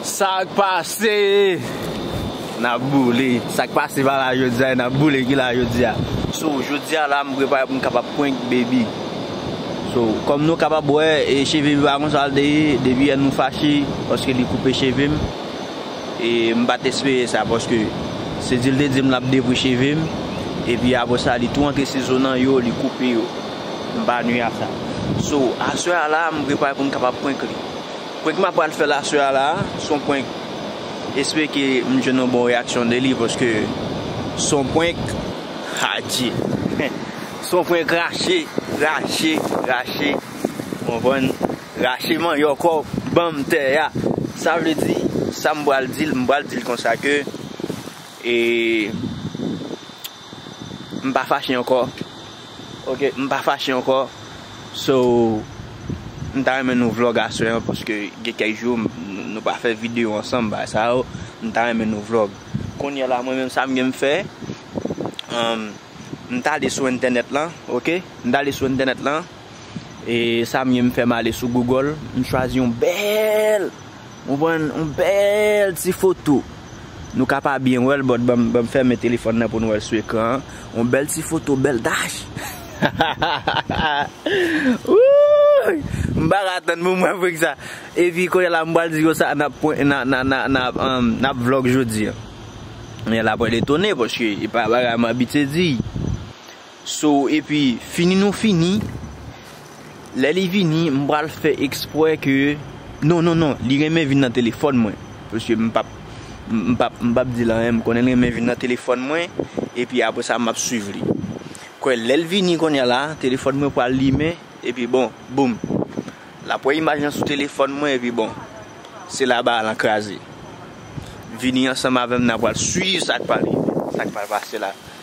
Sak pase Nap boule Sak pase pa la jodia e nap boule ki la jodia So jodia la m prepare pou m kapab prank baby So kòm nou kapab wè e cheve baby pa konsa l te ye Depi yè nou fache paske li koupe cheve m E m pa t espere sa paske se di l te di m l ap devwe cheve m Epi apresa li tou rantre sizo nan yo li koupe yo. M pa nui a sa. So, aswè a la a, m prepare pou m kapab prank li. Prank m ap pral fè l aswè a la a, s on prank. Espere ke m jwenn yon bon reyaksyon de li paske s on prank adje. S on prank rache, rache, rache. Ou konprann? Rache manyòk ou, ban m tè a. Sa vle di, sa m pral di l, m pral di l konsa ke e. Mpa fache ankò ok mpa fache ankò so mta renmen nou vlog aswè an paske gen kèk jou nou pa fè video ansanm bagay sa yo mta renmen nou vlog kounyè la mwen menm sam genm fè humm mtale sou entènèt lan ok mtale sou entènèt lan. E sa m ye m fèm ale sou Google, m chwazi yon bèl, ou konprann, yon bèl ti foto. Nou ka pa byen wè l but ban m fèmen telefòn nan pou n wè l sou ekran an. Yon bèl ti foto, bèl dach! Wouuyy! M pa ka atann pou m wè frig sa. Epi kounye la m pral di yo sa n ap pwen, n ap vlog jodi an. Kounye la pral etone paske e pa bagay m abitye di. So epi fini nou fini, lè li vini m pral fè eksprè ke non non non li renmen vin nan telefòn mwen pske m pap m pap m pap di l anyen m konnen l renmen vin nan telefòn mwen epi aprè sa m ap swiv li kwè lè l vini konnya la telefòn mwen pral limen epi bon boum l ap wè imaj lan sou telefòn mwen epi bon se la bara lan kraze vini ansanm avè m n a pral swiv sa k pral rive sa k pral pase la.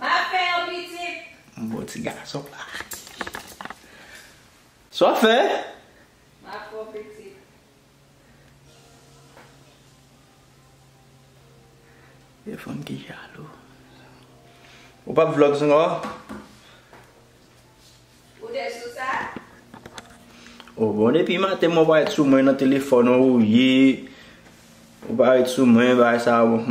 Map fè yon pitit. M bon ti gason la. Sa wap fè? Map fè yon pitit. Gen fanm ki jalou. Ou pap vlog sou nou an? Ou te sou sa? Oh bon depi maten mwen pa ret sou mwen nan telefòn ou ye ou pa ret sou mwen bagay sa bon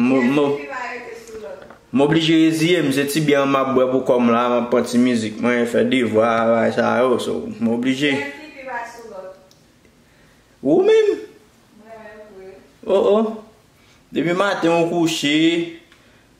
m oblije reziye m se ti byè an map bwè pou kòm la map pran ti mizik mwen fè devwa bagay sa yo so m oblije ou menm oh oh depi maten ou kouche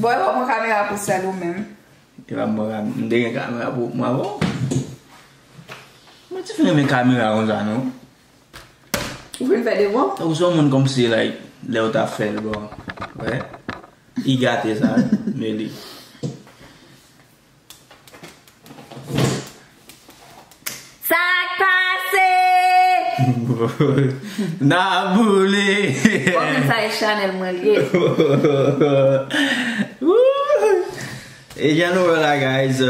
Boy wap pran kamera pou sèl ou menm. Li pa pran kamera, m te gen kamera pou mwen avan. Mwen te fin renmen kamera konsa non. Ou fin fè devwa? Ou son moun komsi like lèw ta fèl bon. Wè? Li gate sa, Meli. Sak pase? Na boule! Bon men sa e chanel mwen li ye. E jan nou wè la guys,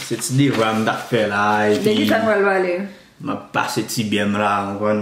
se ti devwa m tap fè la epi. Dekisa pral vale? Map pase ti byè m la ou konn.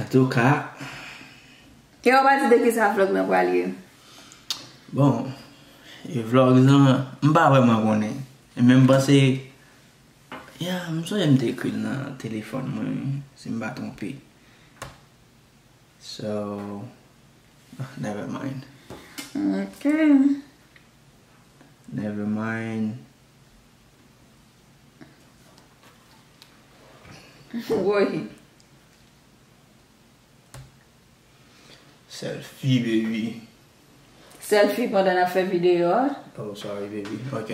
Antouka. Kè ou pa di de ki sa vlog nan pral ye. Bon. E vlog nan. M pa vreman konnen. Men m panse. Ya m sonje m te ekri l nan telefon mwen. Si m pa twonpe. So. Never mind. Ok. Never mind. Woy. Selfie baby. Selfie pandan nap fè video a. Oh sorry baby. Ok.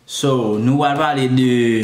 So nou wal pale de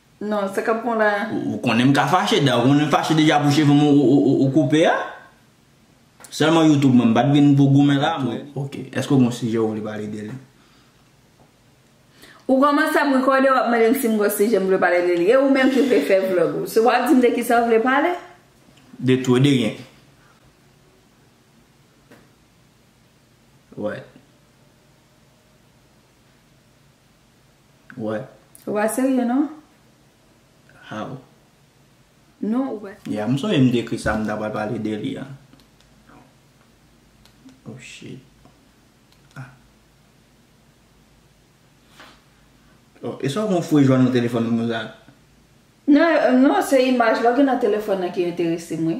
Non, sa kap pran w la a? Ou konnen m ka fache, da ou konnen m fache deja pou cheve m ou koupe a? Sèlman youtube mwen, m pat vin pou goumen la a mwen. Ok, èske ou gen yon sijè ou vle pale de li? Ou kòmanse ap rekòde wap mande m si m gen yon sijè m vle pale de li. E ou menm ki vle fè vlog ou? Se wap di m de kisa ou vle pale? De tou e de ryen. What? What? Ou pa serye non? How? Non ou pa serye. Yeah, m sonje m t ekri sa m ta pral pale de li an. Oh shit. Ah. Oh, e sa w kon fouye jwenn nan telefòn moun sa? Non, non se imaj la ou gen nan telefòn nan ki enterese m wi.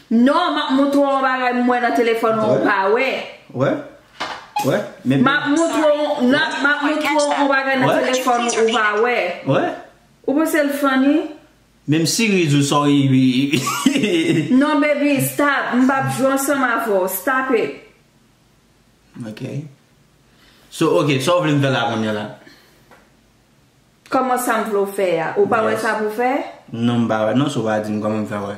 Non, map moutre w yon bagay m wè nan telefòn ou pa wè. Wè? Wè? Men Map moutre w, nan, map moutre w yon bagay nan telefòn ou ou pa wè. Wè? Ou panse l funny? Menm series ou sa w ii. Non baby, stop, m pap jwe ansanm avè w, stop it. Ok. So ok, sa w vle m fè la kounya la? Kòman sa m vle w fè a? Ou pa wè sa pou w fè? Non m pa wè non, so w pa di m kòman m fè wè.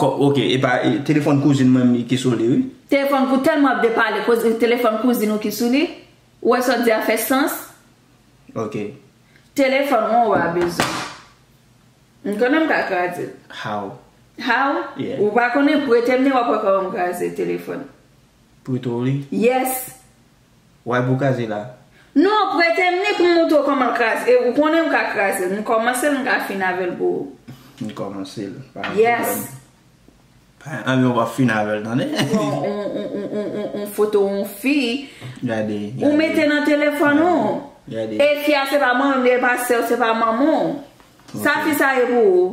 Kòb ok epa telefòn kouzin mwen li ki sou li wi. Telefòn pou tèlman ap depale koz li telefòn kouzin ou ki sou li ou wè sa w di a fè sans. Ok. Telefòn ou a bezwen. M konnen m ka kraze l. How. How? Yeah. Ou pa konnen prete m li wap wè kòman m kraze telefòn. Prete w li? Yes. W'al pou kraze la. Non, prete'm ni pou m'montre w kòman kraze e ou konnen m'ka kraze'l. M'kòmanse'l m'ka fin avè'l pou ou. N kòmanse'l, pa gen pwoblèm. Pa gen anyen w'ap fin avè'l tande. Pran on foto on fi. Gade, gade. Ou mete nan telefòn ou. Gade. E fi a se pa mari'm li, e pa sè'w, se pa manman'w. Sa fi sa ye pou ou?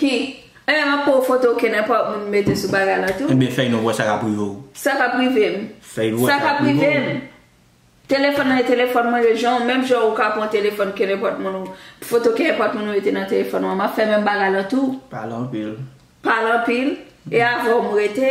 Ki? Eh map pouw foto ke nenpòt moun mete sou bagay la tou. Ebyen fèy nou wè sa kap rive w. Sa kap rive m? Fèy nou wè sa kap rive w. Sa kap rive m? Telefòn nan e telefòn mwen yo jan w menm jan ou ka pran telefòn ke nenpòt moun ou foto ke nenpòt moun ou mete nan telefòn ou an map fè menm bagay la tou. Pale anpil. Pale anpil? E avèw m rete?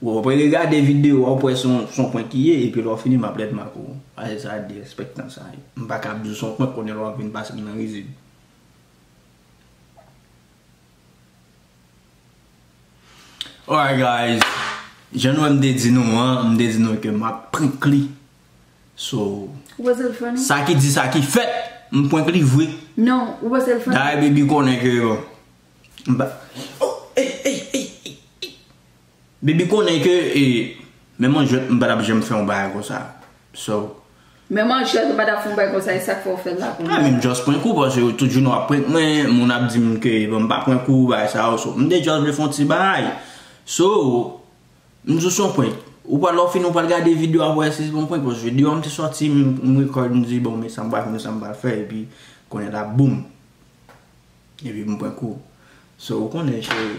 Bon apre regade video a wap wè son prank li ye epi lè wap fini map ret make w pase sa a derespectan sa yo m paka ap di w son prank kounye la wap vin pase m nan rizib. Alright guys jan nou wè m te di nou an m te di nou ke map prank li so sa ki di sa ki fèt m prank li vre dayè baby konnen ke yo m pa oh ey ey ey ey ey Baby konnen ke menm an jwèt m pa tap janm fè yon bagay konsa so. Menm an jwèt ou pa tap fè yon bagay konsa e sak fè ou fèl la kounya. Mwen menm just prank ou paske tout jounen wap prank mwen moun ap dim ke bon m pa prank ou bagay sa yo so m te just vle fè yon ti bagay so m di w se yon prank ou pral lè w fini ou pral gade video a pou w wè si se pa yon prank paske video an te soti m record m di bon men sa m pral fè men sa m pral fè epi kounye la boom epi m prank ou so ou konnen cheri.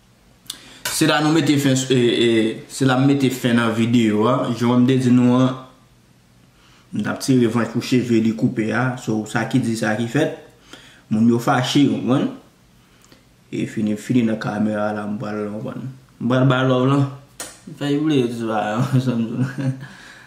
Se la nou mete fen Se la m mete fen nan video a Jan m te di nou an M tap tire revanch pou cheve li koupe a So sa ki di sa ki fèt Moun yo fache ou konprann E fini m fini nan kamera la M pral ou konprann M pral bay love lan Fè jan w vle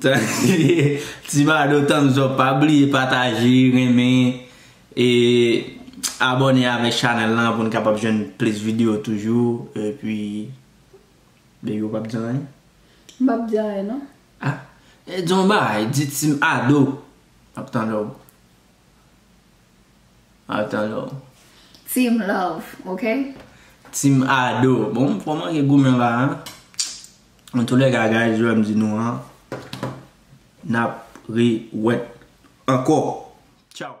Ti bado thumbs up pa bliye pataje renmen e abone avèk chanèl lan pou n kapab jwenn plis video toujou epi baby ou pap di anyen? M pap di anyen non. A di yon bagay di ti ado map tande w. Ata lò. Team love ok. Team Ado. Bon m fò manke goumen la a. An tou lè ka guys jwè m di nou an. Nap re wet ankò. Tchao.